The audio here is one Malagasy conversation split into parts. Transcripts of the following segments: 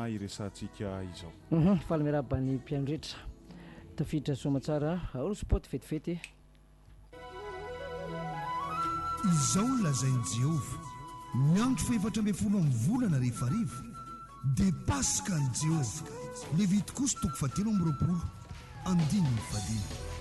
iresahantsika izao. Faly miarahaba ny mpihaino rehetra. Tafiditra soamatsara ao spot vetivety e. Izao no lazain'i Jehovah, Ny andro fahefatra ambin'ny folo amin'ny volana rehefa hariva, dia Paska an'i Jehovah. Levitikosy toko fahatelo amby roapolo, andininy fahadimy.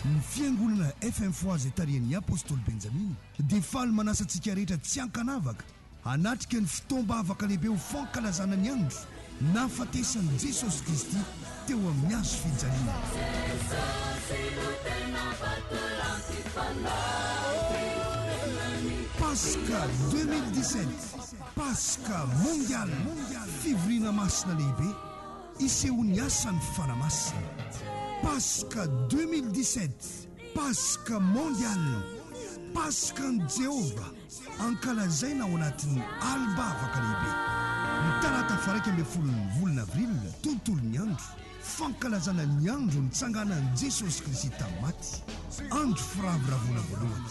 Ny Fiangonana F-Info izay tarihan'ny apostoly Benjamina dia faly manasa antsika rehetra tsy ankanavaka Hanatrika ny fotoam-bavaka lehibe ho fankalazana ny andro nahafatesan'i Jesosy Kristy teo amin'ny hazo fijaliana. Paska 2017, Paska Mondialy, fivoriana masina lehibe isehoan'ny asan'ny Fanahy Masina. Paska 2017, Paska Mondialy, Paska an'i Jehovah. Ankalazaina ao anatin'ny Alba Vaka Lehibe, ny talata faraika ambin'ny folon'ny volana avrila, tontolon'ny andro fankalazana ny andro nitsanganan'i Jesosy Kristy tamin'ny maty, andro firavoravoana voalohany.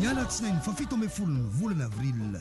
Ny alatsinainy fahafito ambin'ny folon'ny volana avrila,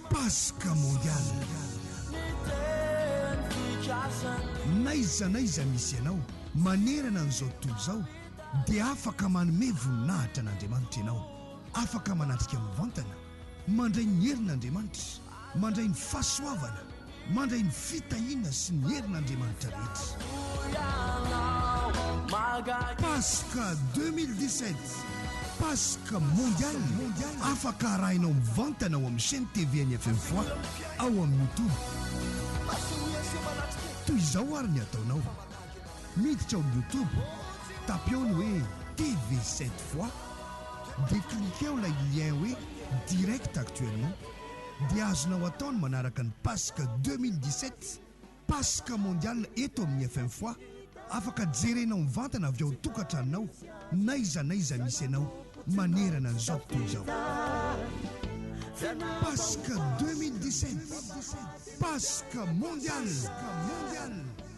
Paska Mondiale. N'aiza n'aiza misy ianao manerana an'izao tontolo izao dia afaka manome voninahitra an'Andriamanitra ianao, afaka manatrika mivantana, mandray ny herin'Andriamanitra, mandray ny fahasoavana, Mandray ny fitahiana sy ny herin' Andriamanitra rehetra. Paska 2017, Paska Mondiale, afaka arahinao mivantana ao amin'ny chaîne TV an'ny FM Foix ao amin'ny YouTube. Toy izao àry ny ataonao, miditra ao amin'ny YouTube, tapio ny hoe TV 7 Foix, dia cliqueo ilay lien hoe Direct Actuellement. dia azonao atao ny manaraka ny Paska deux mille dix-sept, Paska Mondiale eto amin'ny FMFoa, afaka jerenao mivantana avy ao tokatranonao n'aiza n'aiza misy anao manerana an'izao tontolo izao. Paska deux mille dix-sept, Paska Mondiale!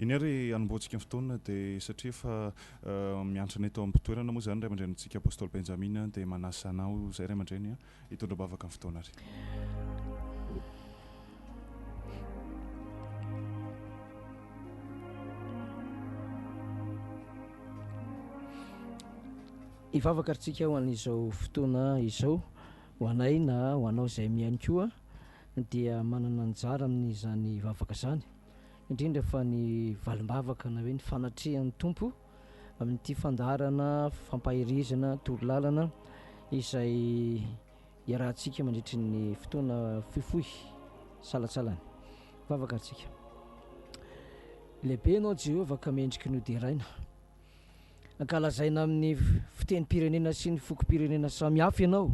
Eny ary hanombohantsika ny fotoana dia satria efa miantrana eto am-pitoerana moa izany ray aman-dreny antsika Apostoly Benjamina dia manasa anao izay ray aman-dreny hitondra bavaka ny fotoana ary. Hivavaka ritsika ho an'izao fotoana izao ho anay na ho anao izay mihaino koa dia manana anjara amin'izany vavaka izany, indrindra fa ny valim-bavaka na hoe ny fanatrehan'ny Tompo amin'ity fandaharana fampaherezana toro lalana izay iarahantsika mandritry ny fotoana fohifohy salatsalany vavaka antsika. Lehibe ianao Jehovah ka mendriky ny hoderaina. Ankalazaina amin'ny fitenim-pirenena sy ny fokom-pirenena samihafa ianao.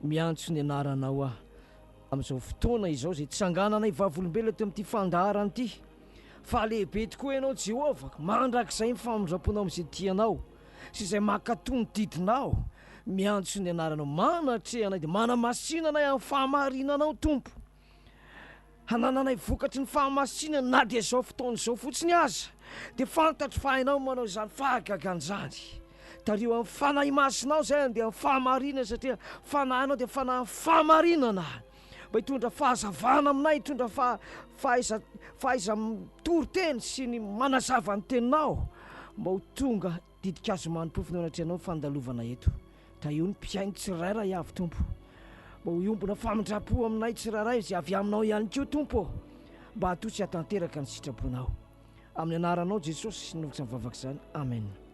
Miantso ny anaranao aho amin'izao fotoana izao, izay tsangananay vavolombelona teo amin'ity fandaharana ity, fa lehibe tokoa Ianao Jéhovah, mandrakizay ny famindram-ponao amin'izay tia Anao sy izay mankatò ny didinao. Miantso ny anaranao, manatreha anay dia manamasina anay amin'ny fahamarinanao Tompo. hanananay vokatry ny fahamasinana na dia izao fotoana izao fotsiny aza, dia fantatro fa hainao ny manao izany fahagagana izany. Tariho amin'ny Fanahy Masinao izay handeha amin'ny fahamarinana, satria Fanahinao dia Fanahin'ny fahamarinana, mba hitondra fahazavana aminay, hitondra faha- fahaiza- fahaiza-mitory teny sy ny manazava ny Teninao, mba ho tonga Ditin-kazo manontofy no anatrehanao ny fandalovana eto. Tahio ny mpihaino tsirairay avy, Tompo. Mba ho hiombona famindram-po aminay tsirairay izay avy Aminao ihany koa, Tompo ô. Mba hatoa sy hatanteraka ny sitraponao. Amin'ny anaranao, Jesosy, no vokatra ny vavaka izany. Amena.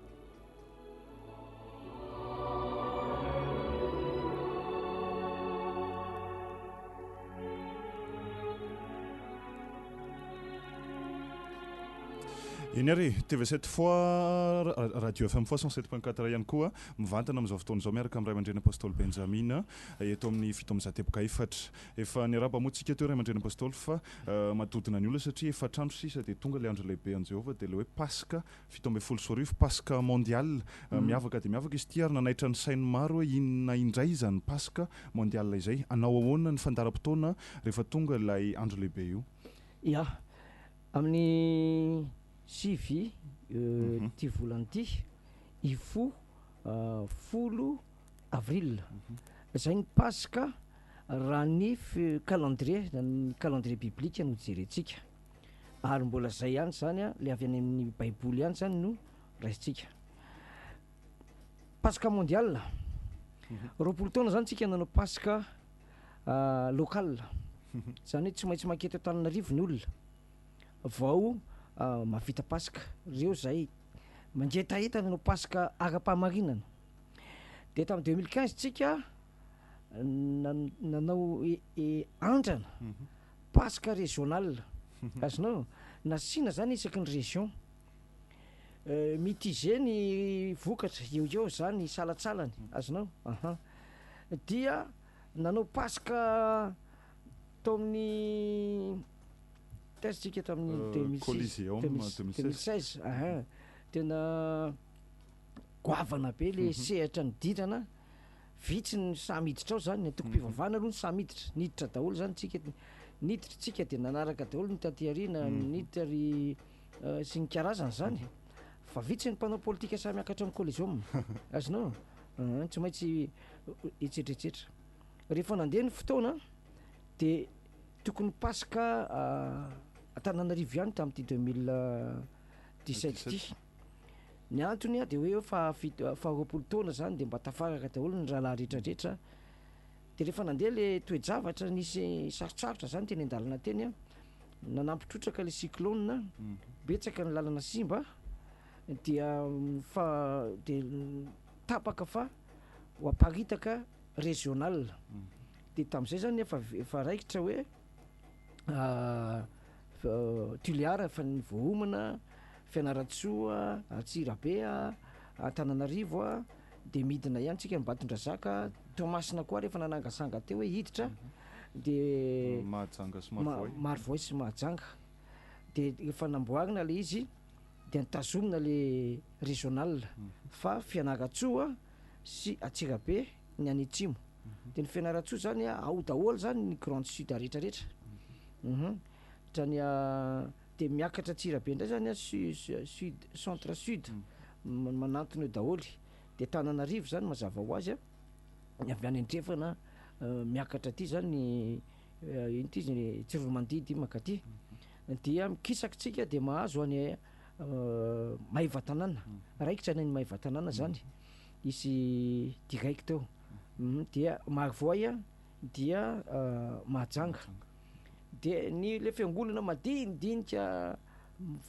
Eny ary, TV7 fois, Radio FM fois 107.4 ihany koa mivantana amin'izao fotoana izao miaraka amin'ny Ray aman-dreny Apostoly Benjamina eh, eto amin'ny fito amby zateboka efatra. Efa niaraba moa tsika teo Ray aman-dreny Apostoly fa eh, madodona ny olona satria efa trano sisa dia tonga ilay andro lehibe an'i Jehovah dia ilay hoe Paska fito ambin'ny folo sy roa arivo, Paska Mondial miavaka dia miavaka izy ity ary nanaitra ny sain'ny maro hoe inona indray izany Paska Mondial izay? Hanao ahoana ny fandaharam-potoana rehefa tonga ilay andro lehibe io? Ia, amin'ny sivy ity volana ity, hifoha folo avril, izay ny Paska raha ny calendrier, ny calendrier biblika no jerentsika. Ary mbola izay ihany izany an, ilay avy any amin'ny baiboly ihany izany no raisintsika. Paska mondial, mhm. roapolo taona izany tsika nanao paska ah, local, mhm. izany hoe tsy maintsy makety Antananarivo ny olona vao ah, mavita paska, reo izay mangetaheta nanao paska ara-pahamarinana. Dia tamin'ny deux mille quinze tsika nanao e, e, andrana, mhm. Paska régional, azonao? Nasiana zany isaky ny région. Mitigé ny vokatra, eo eo zany hisalatsalany, azonao? Aha. Dia nanao Paska tao amin'ny, taiza tsika tamin'ny deux mille six? Coliseum deux mille seize, aha. Tena goavana be le sehatra nidirana. Vitsy ny samy hiditra ao zany, ny antokom-pivavahana aloha no samy hiditra, niditra daholo zany tsika eto, niditra tsika dia nanaraka daholo ny taty aoriana, niditra ry sy ny karazany zany, fa vitsy ny mpanao politika sahy miakatra amin'ny Coliseum, azonao? Aa, tsy maintsy etsetra etsetra. Rehefa nandeha ny fotoana dia tokony Paska Antananarivo ihany tamin'ity deux mille dix-sept ity. Ny antony dia hoe fahafito, faharoapolo taona zany dia mba tafaraka daholo ny rahalahy rehetra rehetra, dia rehefa nandeha le toe-javatra nisy sarotsarotra zany teny an-dalana teny a, nanampy trotraka le cyclone a, betsaka ny lalana simba dia fa de tapaka fa ho aparitaka regional, de tam'zay zany efa efa raikitra hoe. Tulear efa voaomana, Fianarantsoa, Antsirabe, Antananarivo a, de midina ihany tsika Ambatondrazaka, Toamasina koa ary efa nanangasanga teo hoe hiditra, de Mahajanga sy Marovoay, Marovoay sy Mahajanga de efa namboarina le izy de tazomina le regional fa Fianarantsoa sy Antsirabe ny any atsimo dia ny Fianarantsoa zany ao daholo zany ny grande sud rehetra rehetra uhum hatrany dia miakatra Antsirabe indray zany sud centre sud manantona eo daholo dia Tananarivo zany mazava ho azy ny avy any andrefana miakatra aty zany Inty izy ny tsiromandidy mankaty dia mikisaky tsika dia mahazo any Maevatanàna raikitra any any Maevatanàna zany izy digaiko teo dia Marovoay dia Mahajanga de ny le fiangonana madinidinika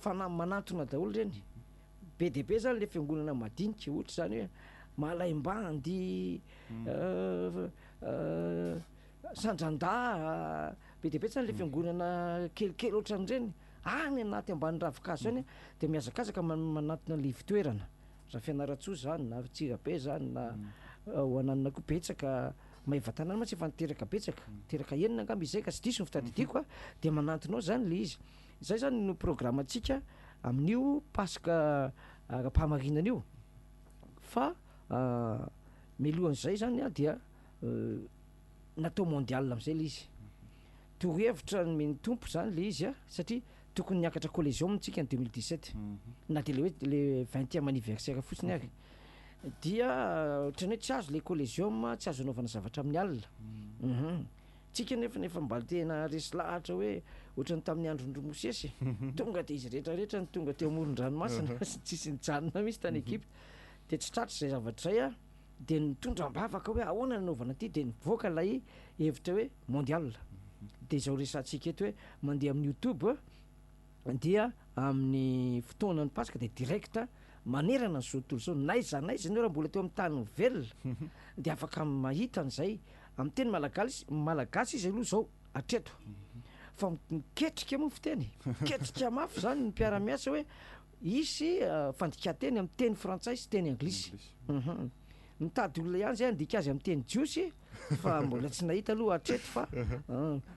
fanahy manantona daholo reny be dia be zany le fiangonana madinika ohatra zany hoe Malaimbandy Sandran-dahy be dia be tsy any ilay fiangonana kelikely ohatran'ireny, any anaty ambany ravin-kazo any dia mihazakazaka manatona ilay ivon-toerana, raha Fianarantsoa izany na Antsirabe izany na ho ananona koa betsaka, Maevatanàna mantsy efa niteraka betsaka, teraka enina angamba izay ka tsy diso ny fitadidiako a, dia manantona ao izany ilay izy. Izay izany no programantsika amin'io Paska ara-pahamarinana io fa mialohan'izay izany dia Natao mondial amizay le izy. Torohevitra nomen'ny Tompo zany le izy a, satria tokony niakatra Collegium tsika ny deux mille dix sept, na de le hoe le vingtième anniversaire fotsiny ary, dia ohatran'ny hoe tsy azo le Collegium, tsy azo anaovana zavatra amin'ny alina, um tsika nefany efa mba tena resy lahatra hoe ohatran'ny tamin'ny andron-dry Mosesy e! tonga de izy rehetra rehetra no tonga teo amoron-dranomasina, tsisy nijanona mihitsy tany Egypta, de tsy tratra izay zavatra izay a. dia nitondra am-bavaka hoe ahoana ny anaovana ity dia nivoaka ilay hevitra hoe mondial dia izao resahantsika eto hoe mandeha amin'ny youtube dia amin'ny fotoanan'ny paska dia direct manerana an'izao tontolo izao n'aiza n'aiza ianao raha mbola teo amin'ny tany velona dia afaka mahita an'izay amin'ny teny malagasy malagasy izy aloha izao hatreto fa miketrika moa fiteny e, miketrika mafy izany ny mpiara-miasa hoe Hisy fandikan-teny amin'ny teny frantsay sy teny anglisy. Mitady olona ihany izay handika azy amin'ny teny jiosy fa mbola tsy nahita aloha hatreto fa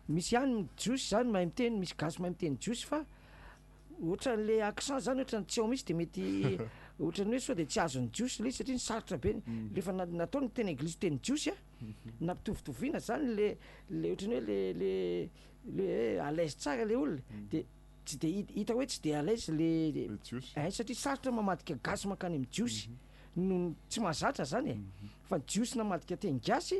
misy ihany jiosy izany mahay miteny, misy gasy mahay miteny jiosy fa ohatran'ilay accent izany ohatran'ny tsy ao mihitsy dia mety ohatran'ny hoe sao dia tsy azon'ny jiosy ilay izy satria ny sarotra be ny, rehefa na- natao ny teny anglisy teny jiosy a, nampitovitovina izany le le ohatran'ny hoe le le le hoe à l'aise tsara ilay olona dia Tsy dia hita, hita hoe tsy dia à l'aise le Le Jiosy. eh, satria sarotra mamadika gasy mankany amin'ny Jiosy noho ny tsy mahazatra zany e, fa ny Jiosy namadika teny gasy,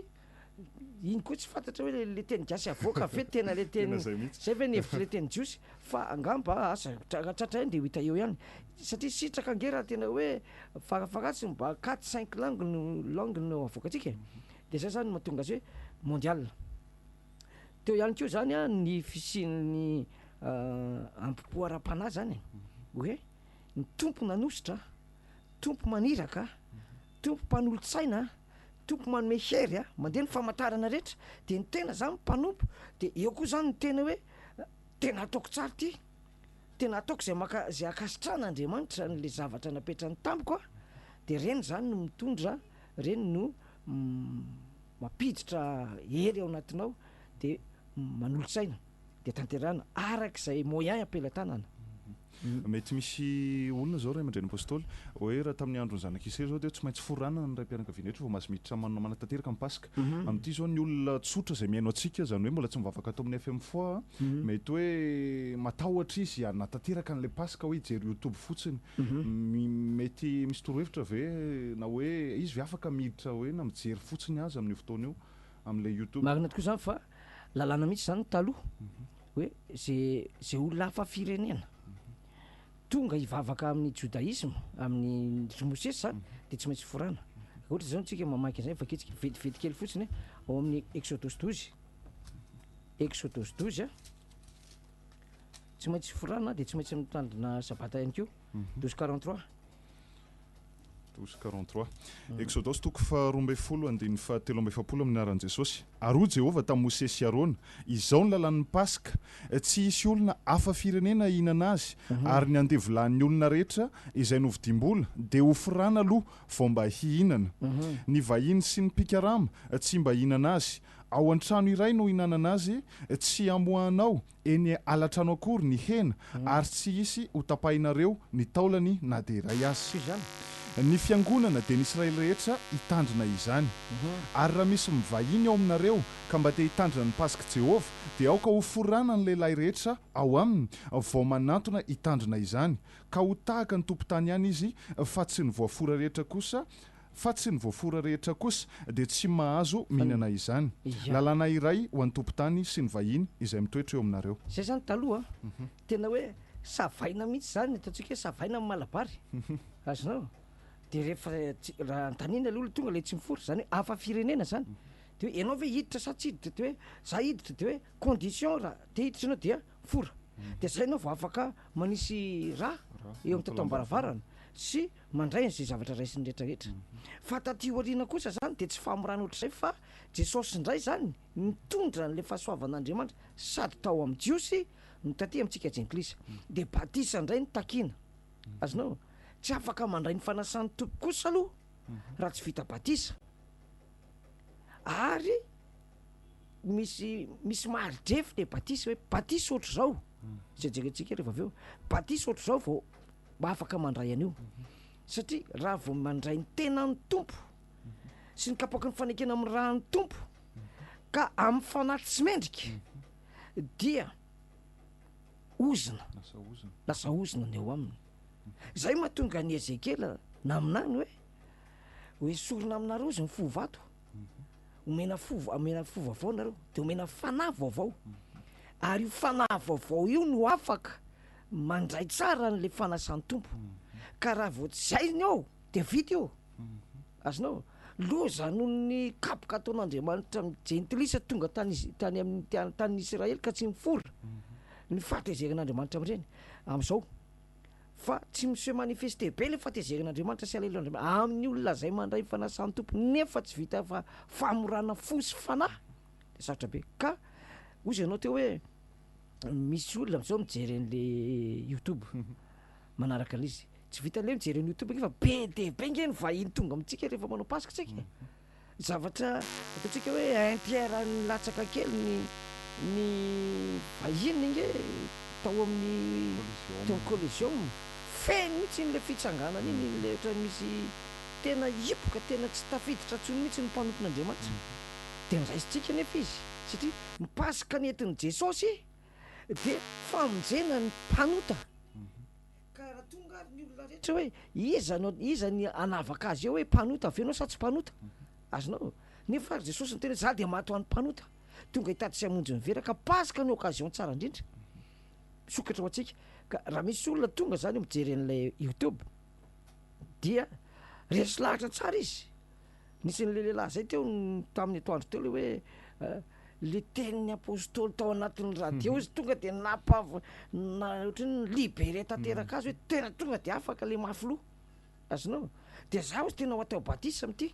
iny koa tsy fantatra hoe le teny gasy avoaka ve tena le Tena teny, izay mihitsy. zay ve ny hevitry le teny Jiosy, fa angamba asa tra- raha tratra eny dia ho hita eo ihany, satria sitraka ange raha tena hoe farafaharatsiny mba quatre cinq langues no langues no avoakantsika e, dia zay zany no mahatonga azy hoe mondial. Teo ihany koa zany a ny fisian'ny ambopo ara-panahy zany e, hoe ny Tompo nanositra, Tompo maniraka, Tompo mpanolo-tsaina, Tompo manome hery a, mandeha ny famantarana rehetra, de ny tena zany mpanompo, de eo koa zany ny tena hoe tena ataoko tsara ty, tena ataoko zay maka- zay ankasitrahan'Andriamanitra an'le zavatra napetrany tamiko a, de reny zany no mitondra. Ireny no mampiditra hery ao anatinao de manolo-tsaina de tanterahina araka izay moyen am-pelatanana. Mety misy olona izao ray aman-dreny Apostoly, hoe raha tamin'ny andron'ny zanak'Israely izao dia tsy maintsy foranana ny raim-pianakaviana rehetra vao mahazo miditra manatanteraka ny Pask. Amin'ity izao ny olona tsotra izay mihaino antsika, izany hoe mbola tsy nivavaka ato amin'ny FM Foix, mety hoe matahotra izy hanatanteraka an'ilay Paska hoe hijery YouTube fotsiny. Mi- Mety misy torohevitra ve na hoe izy ve afaka miditra hoe na mijery fotsiny aza amin'io fotoana io amin'ilay YouTube? Marina tokoa izany fa lalàna mihitsy izany taloha hoe ze ze olona hafa firenena Tonga hivavaka amin'ny Jodaisma, amin'ny Dry Mosesy dia tsy maintsy forana. Ohatra izao isika mamaky an'izay fakitsika vetivety kely fotsiny ao amin'ny Exodosy dozy, Exodosy dozy a, tsy maintsy forana dia tsy maintsy mitandrina sabata ihany koa, dozy quarante trois. Douze quarante trois. Exodosy toko faharoa ambin'ny folo andininy fahatelo amby efapolo Amin'ny anaran'i Jesosy, ary hoy Jehovah tamin'i Mosesy sy Arona, Izao ny lalàn'ny Paska, Tsy hisy olona hafa firenena hahinana azy, ary ny andevolahin'ny olona rehetra izay novidiam-bola dia hofirana aloha vao mba hihinana. Ny vahiny sy ny mpikarama tsy mba hihinana azy. Ao an-trano iray no hihinanana azy, tsy hamoahanao eny alatrano akory ny hena ary tsy hisy ho tapahinareo ny taolany na dia iray aza. Ny fiangonana dia ny Israely rehetra hitandrina izany. Ary raha misy mivahiny ao aminareo ka mba te hitandrina ny Pasik'i Jehovah, dia aoka hoforana ny lehilahy rehetra ao aminy vao manantona hitandrina izany, ka ho tahaka ny tompon-tany ihany izy, fa tsy ny voafora rehetra kosa fa tsy ny voafora rehetra kosa dia tsy mahazo mihinana izany. Lalàna iray ho an'ny tompon-tany sy ny vahiny izay mitoetra eo aminareo. Izay izany taloha an! Tena hoe savaina mihitsy izany ny ataontsika hoe savaina amin'ny malabary. Azonao? Dia rehefa raha anontaniana aloha ilay tonga ilay tsy mifory, izany hoe hafa firenena izany, dia hoe ianao ve hiditra sa tsy hiditra? Dia hoe izaho hiditra, dia hoe condition raha te hiditra ianao dia fora. Dia izay ianao vao afaka manisy rà eo amin'ny tato-am-baravarana sy. Mandray an'izay zavatra raisin'ny rehetrarehetra. Fa taty aoriana kosa izany dia tsy famorana ohatr'izay fa Jesosy indray izany nitondra an'ilay fahasoavan'Andriamanitra sady tao amin'ny Jiosy no taty amintsika Jentilisa. Dia batisa indray no takiana. Azonao? Tsy afaka mandray ny fanasan'ny Tompo kosa aloha raha tsy vita batisa. Ary misy misy maridrefy ilay batisa hoe batisa ohatr'izao izay jerentsika rehefa avy eo. Batisa ohatr'izao vao afaka mandray an'io satria raha vao mandray ny tenan'ny Tompo sy ny kapoaky ny fanekena amin'ny raha ny Tompo ka amin'ny fanahy tsy mendrika dia ozona lasa ozona ny eo aminy zay mahatonga ny Ezekiela naminany hoe hoe sorona aminareo izy ny fo vato omena fo omena fo vaovao nareo de omena fanahy vaovao ary io fanahy vaovao io no afaka Mandray tsara an'ilay fanasan'ny Tompo, ka raha vao tsy hay ny ao dia vita io. Azonao? Loza noho ny kapoka ataon'Andriamanitra amin'ny jentilisa tonga tany tany amin'ny tany tanin'ny Israely ka tsy nifoha ny fahatezeran'Andriamanitra amin'ireny amin'izao. Fa tsy mi-se manifester be ilay fahatezeran'Andriamanitra sy haleloan'Andriamanitra amin'ny olona izay mandray ny fanasan'ny Tompo nefa tsy vita fa famorana fo sy fanahy. Dia sarotra be. Ka hoy izy ianao teo hoe. misy olona amzao mijery an'le youtube manaraka an'le izy tsy vitan'le hoe mijery an'i youtube ange fa be dia be ange ny vahiny tonga amintsika rehefa manao paska tsika zavatra ataontsika hoe un tiers any latsaka kely ny ny vahiny ange tao amin'ny teo amin'ny collision feno mihitsy iny le fitsanganana iny iny le ohatran'ny misy tena hipoka tena tsy tafiditra ntsony mihitsy ny mpanompon'andriamanitra dia niraisintsika nefa izy satria Ny Paska nentin'i Jesosy dia famonjena ny mpanota, ka raha tonga ary ny olona rehetra hoe iza no iza ny hanavaka azy eo hoe mpanota ve ianao sa tsy mpanota, azonao? nefa ary Jesosy niteny hoe za dia maty ho an'ny mpanota, tonga hitady sy hamonjy ny vera, ka Paska no occasion tsara indrindra misokatra ho antsika, ka raha misy olona tonga zany mijery an'ilay youtube dia resy lahatra tsara izy. Nisy an'ilay lehilahy izay teo tamin'ny atoandro teo ilay hoe ilay tenin'ny apôstôly tao anatin'ny radio izy tonga dia napav- na ohatry ny libéré tanteraka azy hoe tena tonga dia afaka ilay mafy loha. Azonao? Dia izaho izy tena ho atao batisa amin'ity.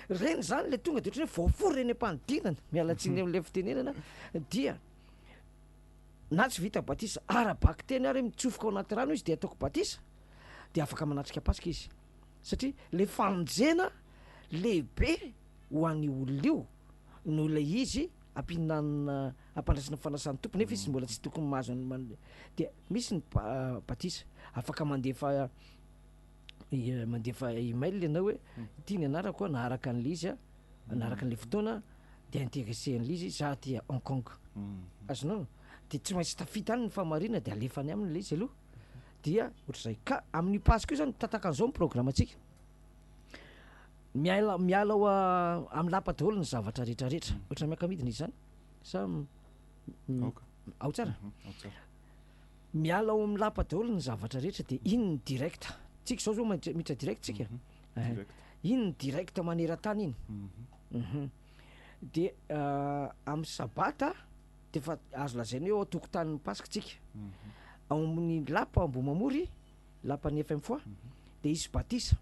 Ireny izany ilay tonga dia ohatry ny hoe voafory ireny am-panidinana, miala tsiny mhm. amin'ilay fitenenana, dia na tsy vita batisa ara-bakiteny ary mitsofoka ao anaty rano izy dia ataoko batisa dia afaka manatrika Paska izy. satria le famonjena lehibe ho an'io olona io no ilay izy ampihinanana ampandraisana fanasan'ny Tompo nefa izy mbola tsy tokony mahazo an'ny man- dia misy ny ba- batisa afaka mandefa i- mandefa email ianao hoe ity ny anarako a naharaka an'le izy a naharaka an'le fotoana de interessé an'le izy za aty à Hong Kong azonao de tsy maintsy tafita any ny fahamarinana de alefa any aminy le izy aloha Dia ohatr'izay. Ka amin'io Paska io zany, tataka an'izao ny programantsika. Miala, miala ao amin'ny lapa daholo ny zavatra rehetra rehetra. Mhm. Ohatrany miaka-midina izy zany. Sa m- m- Aoka. ao tsara? Mhm, Ao tsara. miala ao amin'ny lapa daholo ny zavatra rehetra dia iny ny direct tsika izao zao mandri- miditra direct tsika Mhm. Eh, Direct. iny ny direct maneran-tany iny Mhm. Mhm. dia ah, amin'ny sabata Dia efa azo lazaina hoe ao an-tokotanin'ny Paska isika. Ao amin'ny lapa Ambohimamory, lapan'ny FMFOA, dia hisy batisa.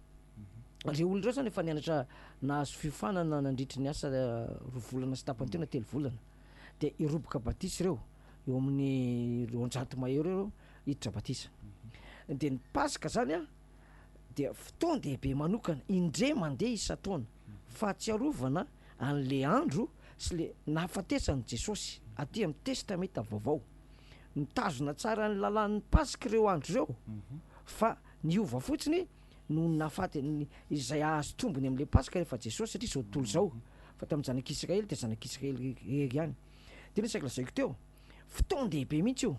Ireo olona ireo izany efa nianatra nahazo fiofanana nandritry ny asa roa volana sy tapany teo na telo volana. Dia hiroboka batisa ireo, eo amin'ny roanjato mahery eo ireo hiditra batisa. Dia ny Paska izany dia fotoan-dehibe manokana, indray mandeha isan-taona. Fahatsiarovana an'le andro sy le nahafatesan'i Jesosy aty amin'ny Testamenta Vaovao. Mitazona tsara ny lalàn'ny Paska ireo andro ireo fa niova fotsiny noho ny nahafatin'ny izay hahazo tombony amin'le Paska rehefa Jesosy satria izao tontolo izao fa tamin'ny zanak'Israely dia zanak'Israely irery ihany. Dia ny isaky lazaiko teo, fotoan-dehibe mihitsy io.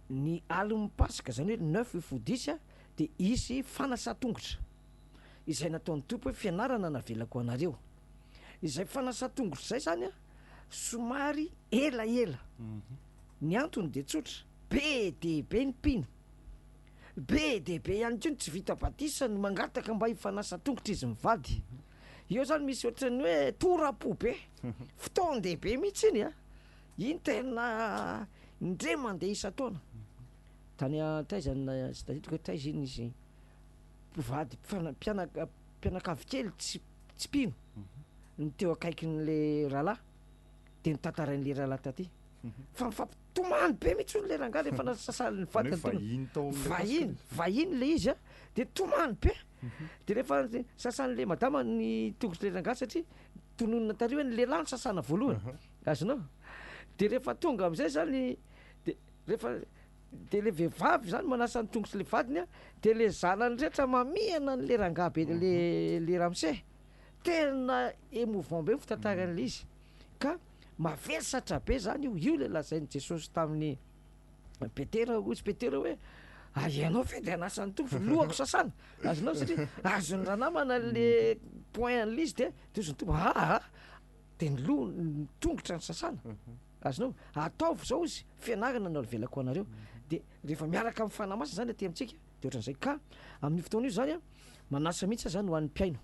Ny alin'ny Paska, izany hoe le neuf fodiy dia hisy fanasan-tongotra. izay nataon'ny Tompo hoe fianarana navelako ho anareo. Izay fanasan-tongotra izay izany an, somary elaela. Ny antony dia tsotra, be dia be ny mpino. Be dia be ihany koa ny tsy vita batisa no mangataka mba hifanasa an-tongotra izy mivady. Eo izany misy ohatran'ny hoe tora-po be, fotoan-dehibe mihitsy iny an! Iny tena indray mandeha isan-taona. Tany an, taiza, tadidiko hoe taiza iny izy, mpivady mpifana- mpianaka- mpianakavy kely tsy tsy mpino no teo akaikin'le rahalahy de notantarain'le rahalahy taty fa nifampitomany be mihitsy hono le rangahy rehefa nasasalin'ny Zany hoe vadiny teo- vahiny tao amin'ilay Paska vahiny le- vahiny le izy a de tomany be de rehefa ny sasan'le madama ny tongotr'le rangahy satria tononina tary hoe ny lehilahy no sasana voalohany azonao de rehefa tonga am'zay zany de rehefa Dia le vehivavy zany manasa ny tongotsy le vadiny a, de le zanany rehetra mamihana anle rangahy be le le ramose, tena emouvant be ny fitantaran'le izy, ka mavesatra be zany io, io le lazain'i Jesosy tamin'i Petera, hoy izy Petera hoe ary ianao ve de hanasa ny tongotra, lohako sasana, azonao satria azon'ny ranamana le point anle izy de, de hoy izy nitongatra, aa, de ny loha- ny tongotra no sasana. Azonao? Ataovy izao izy, fianarana no avelako ho anareo, dia rehefa miaraka amin'ny Fanahy Masina izany aty amintsika, dia ohatran'izay. Ka amin'io fotoana io izany, manasa mihitsy aho izany ho an'ny mpihaino,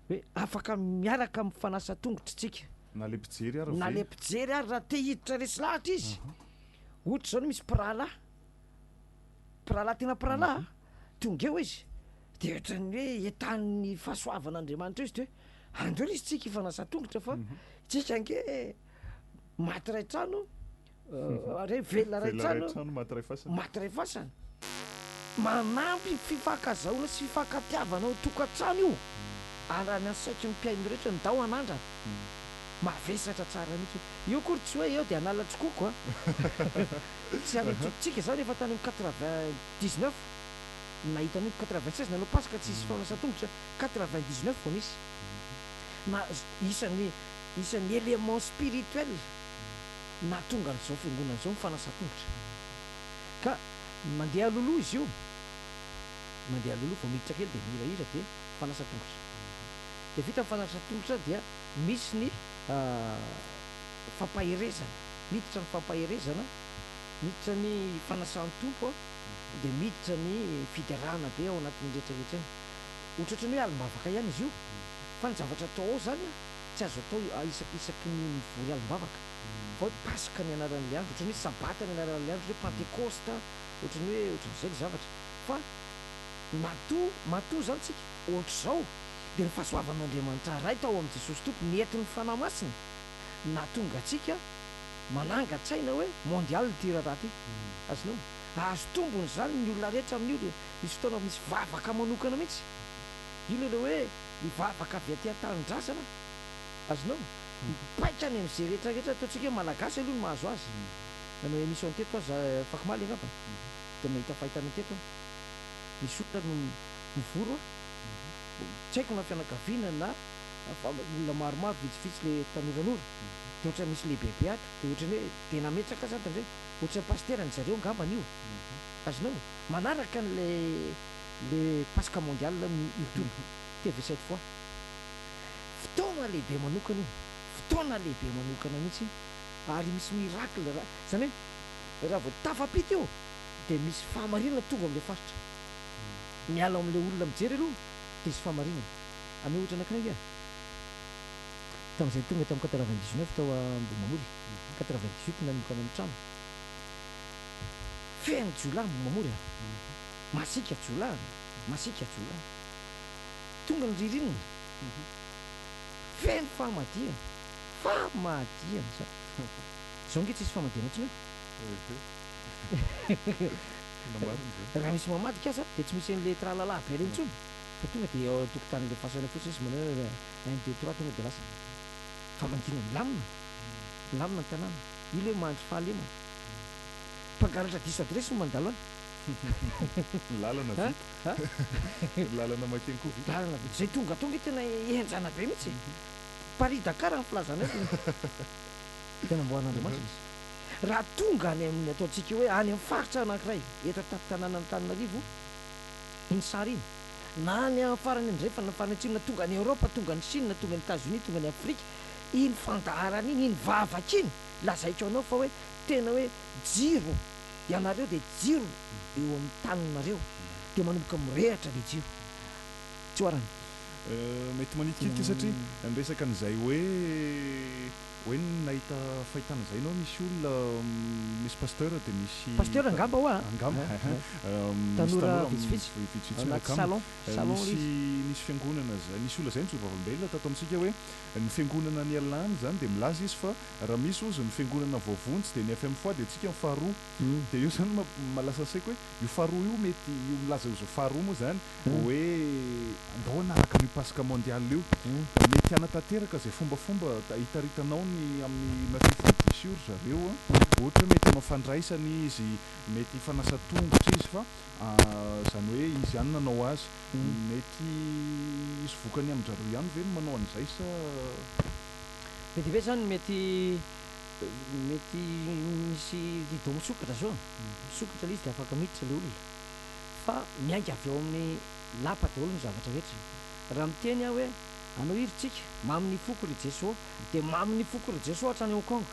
hoe afaka miaraka amin'ny fanasa tongotr'tsika, Na le mpijery ary na ve? le mpijery ary, raha te hiditra resy lahatra izy, ohatra izao misy mpirahalahy, mpirahalahy tena mpirahalahy an, tonga eo izy, dia ohatran'ny hoe entanin'ny fahasoavan'Andriamanitra eo izy, dia hoe andeo lesy tsika hifanasa tongotra fa tsika ange. Maty ray trano, re velona ray trano, maty ray fasana. Maty ray fasana. Manampy fifankazahoana sy fifankatiavana ao an-tokantrano io raha ny asaiky ny mpihaino rehetra ny dao anandrana. Mavesatra tsara mihitsy. Io akory tsy hoe eo dia Analantsokoko a! Tsy any Antsokon-tsika izany efa tany amin'ny quatre-vingt dix-neuf nahita an'io, quatre-vingt seize nanao Paska tsy hisy fanasan-tongotra, quatre-vingt dix-neuf vao nisy. Na isan'ny Isan'ny éléments spirituels nahatonga an'izao fiangonana izao ny fanasan-tongotra. Ka mandeha loloha izy io, mandeha loloha, vao miditra kely dia mihirahira dia fanasan-tongotra. Dia vita ny fanasan-tongotra dia misy ny fampaherezana, miditra ny fampaherezana, miditra ny fanasan'ny Tompo an, dia miditra ny fiderana be ao anatin'iny rehetra rehetra iny. Ohatrohatran'ny hoe alim-bavaka ihany izy io, fa ny zavatra atao ao izany an, Tsy azo atao isaky isaky ny mivory alim-bavaka fa hoe paska ny anaran'ilay andro, ohatran'ny hoe sabata ny anaran'ilay andro, hoe pantekosta, ohatran'ny hoe ohatran'izay ilay zavatra. Fa matoa, matoa izany tsika ohatr'izao dia ny fahasoavan'Andriamanitra Ray tao amin'i Jesosy Tompo nentin'ny Fanahy Masina nahatonga antsika manangan-tsaina hoe mondial ity raharaha ity. Azonao? Hahazo tombony izany ny olona rehetra amin'io dia misy fotoana misy vavaka manokana mihitsy. Io ilay hoe Mivavaka avy aty an-tanindrazana azonao mipaika any amin'izay rehetra rehetra ataontsika hoe malagasy aloha no mahazo azy nanao emission teto aho za afaka omaly angamba dia mahita fahitana teto aho misy olona no mivory hoa tsy haiko na fianakaviana na olona maromaro vitsivitsy le tanoranora dia ohatra misy lehibebe ato dia ohatrany hoe dia nametraka azy ato indray ohatrany pasitera ny zareo angamba anio azonao manaraka an'ilay le paska mondial ny youtube TV sept fois fotoana lehibe manokana io fotoana lehibe manokana mihitsy ary misy miracle ra zany hoe raha vao tafapita io de misy fahamarinana mitovy amle faritra miala amle olona mijery aloha de hisy fahamarinana ame ohatra anakiray nge tamzay tonga tam quatre vingt dix neuf tao ambohimamory quatre vingt dix huit nanomboka nanao trano feno jiolahy ambohimamory a. Masiaka jiolahy an! Masiaka jiolahy! Tonga ny ririnina! Feno famadihana! Famadihana izany! Izao ange tsisy famadihana intsony eo! Tena marina izany! Raha misy mamadika aza dia tsy misy an'ilay tralalà avela intsony fa tonga dia eo an-tokotanin'ilay fasana fotsiny izy manao hoe un deux trois tonga dia lasa famadihana milamina! Milamina ny tanàna! Io ilay hoe mandry fahalemana! Mpangalatra diso adiresy no mandalo any! Ny lalana vita. Ny lalana mankeny koa vita. Lalana vita. Izay tonga tonga io tena henjana be mihitsy e. Paris Dakar ny filazana io. Dia namboarin'Andriamanitra izy. Raha tonga any amin'ny ataontsika hoe any amin'ny faritra anankiray eto an-tampon-tanànan'Antananarivo iny sary iny, na any amin'ny farany andrefana, ny farany atsimo, na tonga any Eoropa, tonga any Chine, tonga any Etazonia, tonga any Afrika, iny fandaharana iny, iny vavaka iny, lazaiko anao fa hoe tena hoe jiro Ianareo dia jiro eo amin'ny taninareo, dia manomboka mirehatra ilay jiro. Tsioarana. Mety manitikitika satria niresaka an'izay hoe hoe nahita fahitana izay ianao misy olona misy pasteur dia misy Pasteur angamba ao an. angamba misy Tanora tanora vitsivitsy. vitsivitsy miaraka Anaty aminy salon. Salon ilay nisy izy. nisy fiangonana izay nisy olona izay nijoro vavolombelona tato amintsika hoe ny fiangonana nialany izany dia milaza izy fa Raha misy ozy ny fiangonana voavonjy dia ny fmfoa dia antsika ny faharoa. Dia io izany ma lasa saiko hoe io faharoa io mety io milaza ho izao faharoa moa izany hoe andao hanaraka an'io Paska mondial io. Mety hanatanteraka izay fombafomba hitaritanao ny amin'ny matifiny diso io ry zareo a. Ohatra hoe mety hanao fandraisana izy, mety hifanasa tongotra izy fa izany hoe izy ihany nanao azy. Mety hisy vokany amin-dry zareo ihany ve ny manao an'izay sa. Be dia be zany mety mety misy rideau misokatra zao, misokatra le izy de afaka miditra le olona fa miainga avy ao amin'ny lapa daholo ny zavatra rehetra. Raha miteny aho hoe anao iry tsika mamo ny foko ry Jeso de mamo ny foko ry Jeso hatrany Hong Kong.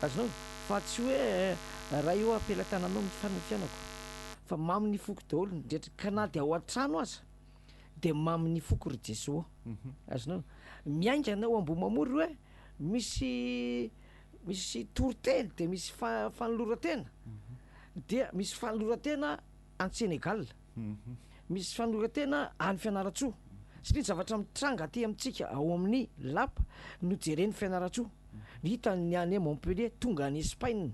Azonao? Fa tsy hoe raha eo am-pelatananao mifarana ny fiainako. Fa mamo ny foko daholo ny rehetra ka na dia ao an-trano aza. Dia mamo ny foko ry Jeso ô. Azonao? Miaingana ao Ambohimamory hoe misy misy toriteny dia misy fa- fanoloran-tena. Dia misy fanoloran-tena any Senegal. Misy fanoloran-tena any Fianarantsoa. Satria ny zavatra mitranga aty amintsika ao amin'ny lapa no jeren'i Fianarantsoa. Hitany ny any Montpellier tonga any Espaina.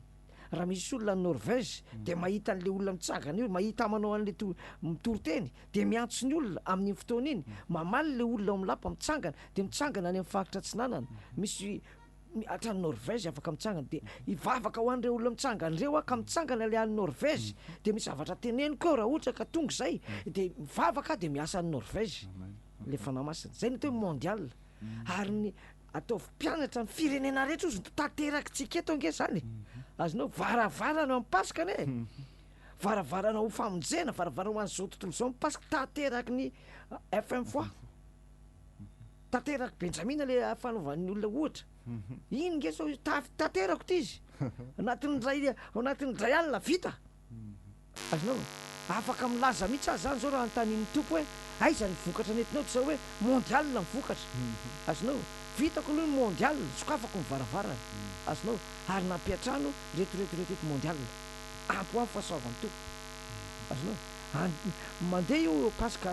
Raha misy olona any Norvège dia mahita an'ilay olona mitsangana eo, mahita manao an'ilay to- mitory teny, dia miantso ny olona amin'iny fotoana iny, mamaly ilay olona ao amin'ny lapa mitsangana, dia mitsangana any amin'ny faritra atsinanana, misy mi- hatrany Norvège afaka mitsangana, dia hivavaka ho an'ireo olona mitsangana ireo aho ka mitsangana ilay any Norvège, dia misy zavatra teneniko eo raha ohatra ka tonga izay, dia mivavaka aho dia miasa any Norvège ilay Fanahy Masina, izay no atao hoe mondial, ary ny Ataovy mpianatra amin'ny firenena rehetra ozy no tanterakitsika eto ange zany e! Azonao varavarana ho an'ny Paska anie e! Varavarana ho famonjena, varavarana ho an'izao tontolo izao ny Paska, tanteraky ny FM foi. Tanteraky Benjamina le fanaovan'ny olona ohatra. Iny nge sao ta- tanterako ity izy. Anatin'ny ray, anatin'ny dray alina vita. Azonao e. Afaka milaza mihitsy aza zany zao raha anontanian'ny Tompo hoe aiza ny vokatra nentinao tsy zao hoe mondial ny vokatra. Azonao e. Vitako aloha ny mondial, sokafako ny varavarana. Azonao e. Ary nampiantrano reto reto reto reto mondial. Ampy ho an'ny fahasoavan'ny Tompo. Azonao e. Any mandeha io Paska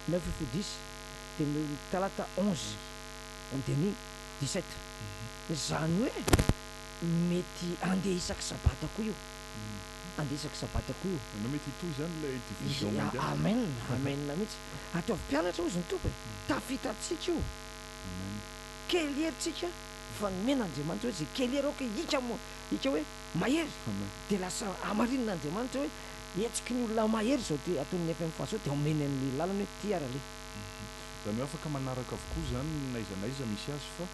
neuf fou dix dia ny talata onze dia ny dix sept. Izany hoe mety handeha isaky sabata koa io. handresaka sabata koa io. Ianao mety hitohy izany ilay division mondial. Amen amen mihitsy. Ataovy mpianatra hozy ny Tompo e. Tafita amintsika io. Kely hery tsika fa nomena Andriamanitra hoe ze kely hery aoka hika hika hoe mahery de lasa hamarinina Andriamanitra hoe hetsiky ny olona mahery izao dia ataon'ny FMFA zao dia omeny anle lalana hoe ty ara le. Izany hoe afaka manaraka avokoa izany n'aiza n'aiza misy azy fa.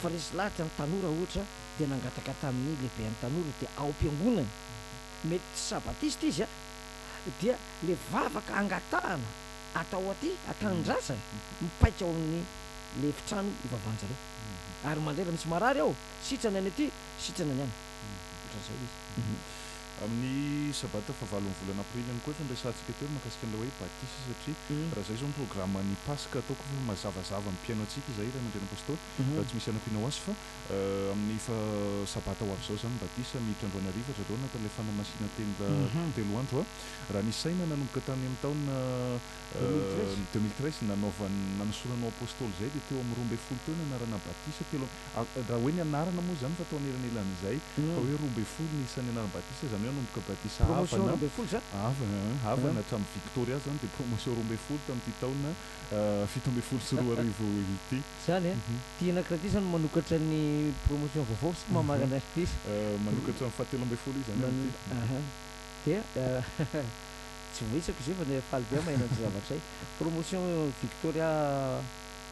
Fa resy lahatra ny tanora ohatra dia nangataka tamin'ny lehiben'ny tanora dia ao am-piangonany, mety tsy sabatista izy an, dia ilay vavaka angatahana atao aty an-tanindrazana mipaika ao amin'ny ilay efitrano ivavanjareo. Ary mandray raha misy marary ao, sitrana ny aty, sitrana ny any. Ohatran'izay ilay izy. Amin'ny sabata fahavalon'ny volana aprily ihany koa efa niresahantsika teo ny mahakasika an'ilay hoe batisa satria raha izay izao ny programan'ny paska ataoko efa mazavazava amin'ny mpihaino antsika izay ilay nandre ny apostoly raha tsy misy hanampiana ho azy fa amin'ny sabata ho avy izao izany ny batisa miditra androany hariva ry zareo nataon'ilay fanamasinanteny telo andro raha ny saina nanomboka tany amin'ny taona Ny deux mille treize nanaovan nanosoranao apostoly zay dia teo amin'ny roa ambin'ny folo teo no anarana batisa telo amby raha hoe ny anarana moa zany fa tao anelanelan'izay fa hoe roa ambin'ny folo ny isan'ny anarana batisa zany hoe hanomboka batisa promotion roa ambin'ny folo za havana hatramin'ny victoria zany dia promotion roa ambin'ny folo tamin'ity taona fito ambin'ny folo sy roa arivo ity zany a tiana kiraty zany manokatra ny promotion vaovao sa mamarana azy ty izy manokatra ny fahatelo ambin'ny folo izy zany amin'ity dia Tsy voahitsako izay fa dia faly be aho maheno an'ity zavatra izay. Promotion Victoria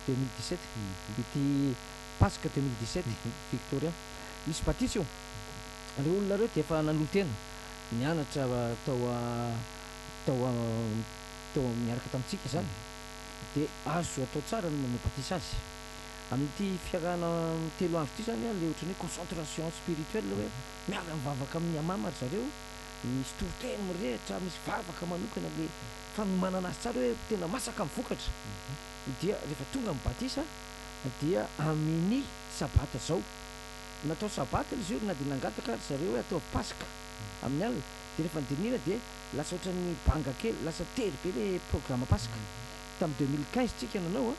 deux mille dix sept ity Paska deux mille dix sept Victoria. Misy batisa io. Ireo olona ireo dia efa nanolo-tena, nianatra tao tao tao niaraka tamintsika izany. Dia azo atao tsara ny manao batisa azy. Amin'ity fiarahana telo andro ity izany ilay ohatran'ny hoe concentration spirituelle hoe miara-mivavaka amin'ny Hamama ry zareo Misy toriteny mirehitra, misy vavaka manokana amin'ny fanomanana azy tsara hoe tena masaka ny vokatra. Dia rehefa tonga ny batisa dia amin'i sabata izao. Natao sabata ilay jour na dia nangataka ry zareo hoe ataovy paska amin'ny alina. Dia rehefa nodinihina dia lasa ohatran'ny banga kely, lasa tery be ilay programa paska. Tamin'ny deux mille quinze tsika nanao an,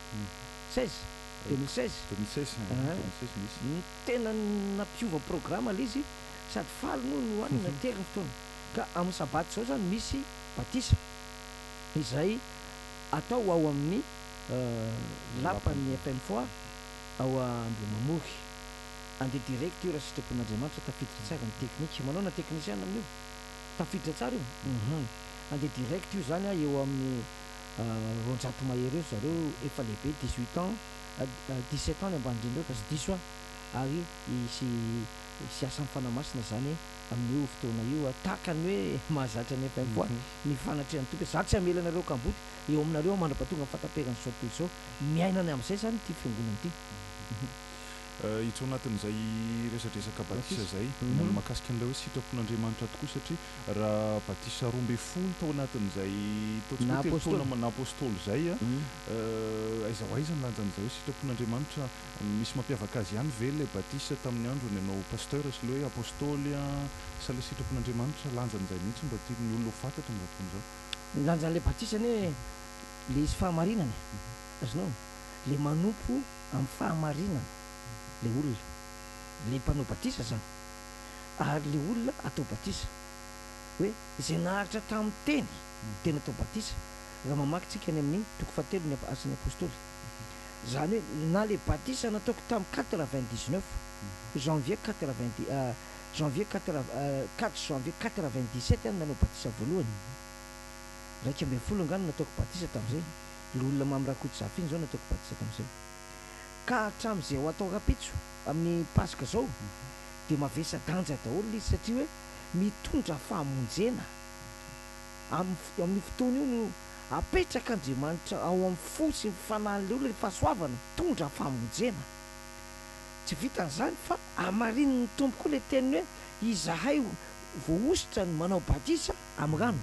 seize, deux mille seize. Deux mille seize, deux mille seize nisy. Tena nampiova programa ilay izy. sady faly moa ny hoanina aty ary ny fotoana ka amin'ny sabata izao izany misy batisa izay atao ao amin'ny lapan'ny FM Foire ao Ambohimamory. Andeha direct io raha sitrapon'Andriamanitra, tafiditra tsara ny teknika. Manao na teknisiana amin'io? Tafiditra tsara io? Uhum. Andeha direct io izany an, eo amin'ny roanjato mahery eo ry zareo efa lehibe, dix-huit ans, dix-sept ans ny ambany indrindra eo fa tsy diso aho, ary hisy Hisy asa mifana masina zany amin io fotoana io a, tahaka ny hoe mahazatra ny FMPOA ny fanatrehan toky. Za tsy hamela anareo kamboty eo aminareo mandrapa tonga ny fataperan zao tontolo izao. Miaina ny amzay zany ity fiangonana ity. Hiditra ao anatin'izay resadresaka batisa izay ny amin'ny mahakasika an'ilay hoe sitrapon'Andriamanitra tokoa satria raha batisa roa ambin'ny folo tao anatin'izay ataontsika hoe telo taona naha apostoly izay a, aiza ho aiza ny lanjan'izay hoe sitrapon'Andriamanitra Misy mampiavaka azy ihany ve ilay batisa tamin'ny androny ianao Pasteur sy le hoe Apostoly an, sa le sitrapon'Andriamanitra? Lanjany izay mihintsy mba tian'ny olona ho fantatra amin'izao fotoana izao. Ny lanjan'ilay batisa anie le izy fahamarinana e, azonao e, le manompo amin'ny fahamarinana le olona, le mpanao batisa izany, ary le olona atao batisa hoe izay naharitra tamin'ny teny dia natao batisa, raha mamaky tsika any amin'ny toko fahatelo ny Asan'ny Apostoly. Izany hoe na ilay batisa nataoko tamin'ny quatre vingt dix neuf janvier quatre vingt dix janvier quatre quatre janvier quatre vingt dix sept aho no nanao batisa voalohany, iraika ambin'ny folo angaha no nataoko batisa tamin'izay, ilay olona Mamy Rakotozafa iny izao nataoko batisa tamin'izay. Ka hatramin'izay ho atao rahampitso amin'ny Paska izao dia mavesa-danja daholo ilay izy satria hoe mitondra fahamonjena, amin'io fotoana io no Apetrak'Andriamanitra ao amin'ny fo sy ny fanahiny olona ny fahasoavana mitondra famonjena. Tsy vitan'izany fa hamarinin'ny Tompo koa ilay teniny hoe, Izahay voahosotra ny manao batisa amin'ny rano.